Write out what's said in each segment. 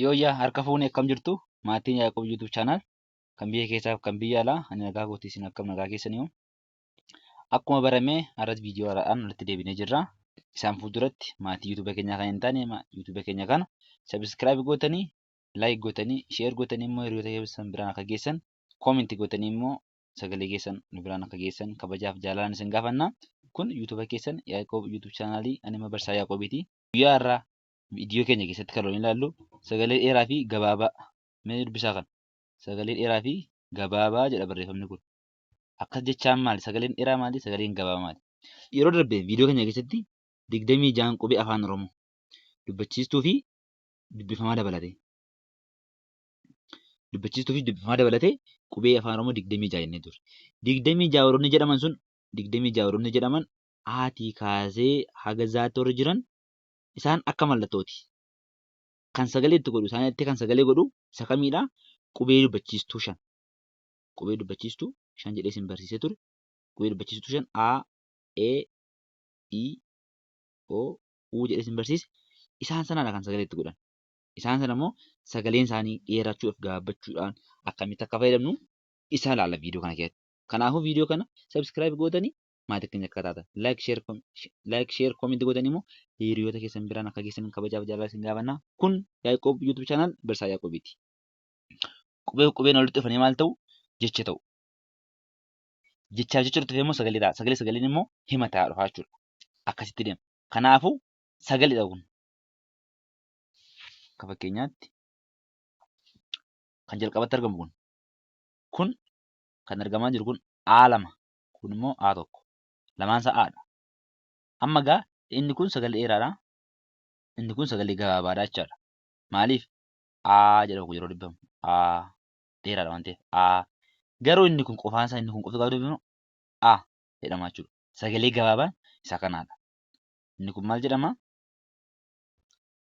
Yooyyaa harka fuune akkam jirtu maatiin Yaaqoob YouTube channel kan biyya keessaaf kan biyya alaa ani nagaa kootii isin akkam nagaa keessanii hoo akkuma barame har'as viidiyoo haaraadhaan walitti deebinee jirra isaan fuulduratti maatii YouTube keenyaa kan hin taane YouTube keenya kana subscribe gootanii like gootanii share gootanii immoo hiriyoota keessan biraan akka geessan comment gootanii immoo sagalee keessan nu biraan akka geessan kabajaaf jaalalaan isin gaafanna kun YouTube keessan Yaaqoob YouTube channel ani barsaa Yaaqoobiiti guyyaa har'aa viidiyoo keenya keessatti kan waliin ilaallu sagalee dheeraa fi gabaabaa mee dubbisaa kan sagalee dheeraa fi gabaabaa jedha barreeffamni kun akkas jechaan maali sagaleen dheeraa maali sagaleen gabaabaa maali yeroo darbe viidiyoo keenya keessatti digdamii ja'an qubee afaan oromoo dubbachiistuu fi dubbifamaa dabalatee dubbachiistuu fi dubbifamaa dabalatee qubee afaan oromoo digdamii ja'a jennee turre digdamii ja'a warroonni jedhaman sun digdamii ja'a warroonni jedhaman haatii kaasee haga zaatti warri jiran isaan akka mallattooti. Kan sagalee itti godhu isaan itti kan sagalee godhu isa kamiidha? Qubee dubbachiistuu shan. Qubee dubbachiistuu shan jedhee isin barsiisee ture. Qubee dubbachiistuu shan A, E, I, O, U jedhee isin barsiise. Isaan sanaadha kan sagalee itti godhan. Isaan sana immoo sagaleen isaanii dheerachuudhaaf gaabbachuudhaan akkamitti akka fayyadamnu isaa ilaalla viidiyoo kana keessatti. Kanaafuu viidiyoo kana subscribe gootanii maatii keenya akka taatan like share com- sh- like share comment godhan immoo hiriyoota keessan biraan akka geessan kabajaaf jaalala isin gaafanna kun Yaaqoob YouTube channel Barsaa Yaaqoobiiti qubee qubeen walitti dhufanii maal ta'u jecha ta'u jechaaf jecha dhufee immoo sagalee ta'a sagalee sagaleen immoo hima ta'a dhufaa jechuudha akkasitti deema kanaafuu sagaleedha kun akka fakkeenyaatti kan jalqabatti argamu kun kun kan argamaa jiru kun aalama kun immoo A tokko. Lamaan isaa A dha. Amma egaa inni kun sagalee dheeraadha. Inni kun sagalee gabaabaadha jechaadha. Maaliif? A jedhamu yeroo dubbamu A dheeraadha waan ta'eef A. Garuu inni kun qofaan isaa inni kun qofti gaafa dubbamu A jedhama jechuudha. Sagalee gabaabaan isa kanaadha. Inni kun maal jedhama?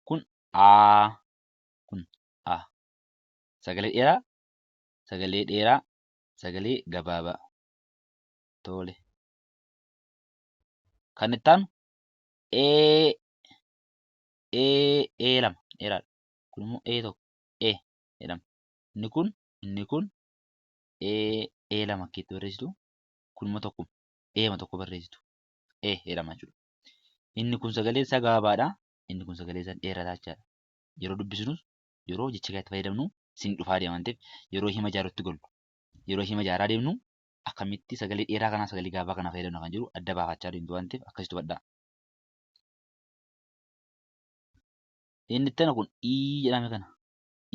Kun A. Kun A. Sagalee dheeraa sagalee dheeraa sagalee gabaabaa toole kan itti aanu ee ee ee lama dheeraadha kun immoo ee tokko ee jedhama inni kun inni kun ee ee lama akka itti barreessitu kun immoo tokko eema tokko barreessitu ee jedhama jechuudha inni kun sagalee isaa gabaabaadha inni kun sagalee isaa dheerataa jechaadha yeroo dubbisnus yeroo jecha kanatti fayyadamnu sin dhufaa deema waan ta'eef yeroo hima jaarutti gollu yeroo hima jaaraa deemnu akkamitti sagalee dheeraa kanaa sagalee gaabaa kana fayyadamna kan jiru adda baafachaa deemtu waan ta'eef akkasitti hubadhaa. Inni itti kun ii jedhame kana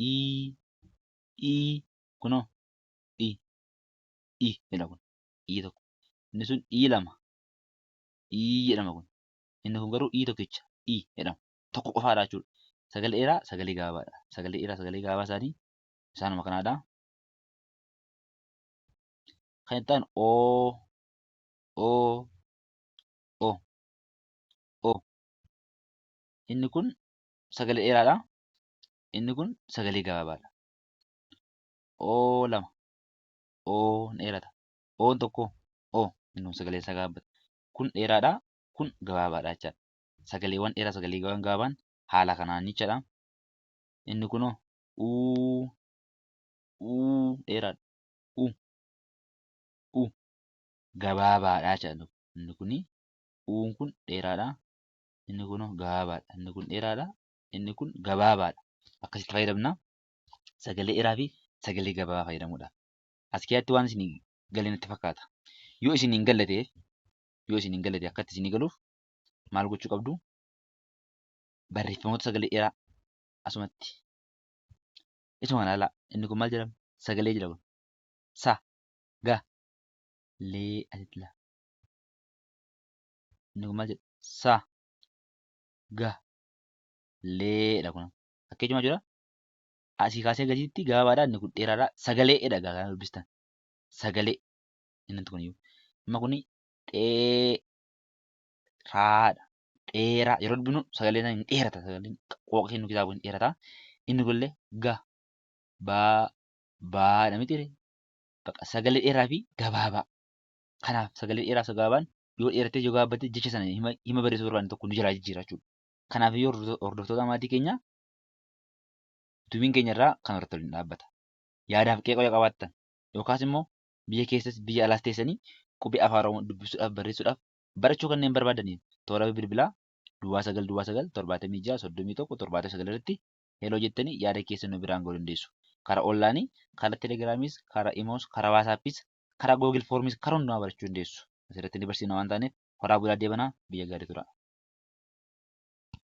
ii ii kunoo ii ii jedha kun ii tokko inni sun ii lama ii jedhama kun inni kun garuu ii tokkicha ii jedhama tokko qofaadha jechuudha. Sagalee dheeraa sagalee gaabaadha. Sagalee dheeraa sagalee gaabaa isaanii isaanuma kanaadha. Kan itti aanu o o o o inni kun sagalee dheeraadha. Inni kun sagalee gabaabaadha. o lama o dheerata. Oon tokko o inni kun sagalee isaa gabaabbata. Kun dheeraadha kun gabaabaadha jechaadha. sagaleewwan dheeraa sagaleewwan gaabaan haala kanaan jechaadha. Inni kunoo uu uu dheeraadha. U u gabaabaadha jechaadha. Inni kun uun kun dheeraadha. Inni kunoo gabaabaadha. Inni kun dheeraadha. Inni kun gabaabaadha. Akkasitti fayyadamna. Sagalee dheeraa fi sagalee gabaabaa fayyadamuudhaaf. As keessatti waan isin galee natti fakkaata. Yoo isin hin galle ta'eef yoo isin hin galle ta'e akkatti isin galuuf maal gochuu qabdu barreeffamoota sagalee dheeraa asumatti isuma kana ilaalaa inni kun maal jedhama sagalee jedha kun sa ga lee asitti ilaa inni kun maal jedha sa ga lee dha kun akka ijuma jira asii kaasee gadiitti gabaabaadha inni kun dheeraadha sagalee dha gaa kana dubbistan sagalee inni kun iyyuu amma kun dhee raadha dheeraa yeroo dubbinu sagaleen hin dheerata sagaleen qooqa kennu kitaaba hin dheerata inni kunillee ga baa baadha miti ree baqa sagalee dheeraa fi gabaabaa kanaaf sagalee dheeraa fi gabaabaan yoo dheerattee yoo gaabbattee jecha sana hima hima barreessuu barbaadne tokko nu jalaa jijjiira jechuudha kanaaf yoo hordoftoota maatii keenya dubiin keenya irraa kan hortolin dhaabbata yaadaaf qeeqoo yoo qabaattan yookaas immoo biyya keessas biyya alaas teessanii qubee Afaan Oromoo dubbisuudhaaf, barreessuudhaaf, barachuu kanneen barbaadaniif toora bilbilaa Duwwaa 9 Duwwaa 9 76 31 79 irratti Hello jettanii yaada keessan nu biraan ga'uu dandeessu. Karaa onlaayinii, karaa Telegiraamiis, karaa Imoos, karaa Waasaappiis, karaa Google Forms karaa hundumaa barachuu dandeessu. Asirratti ni barsiifna waan taaneef horaa bulaa deebanaa biyya gaarii turaa.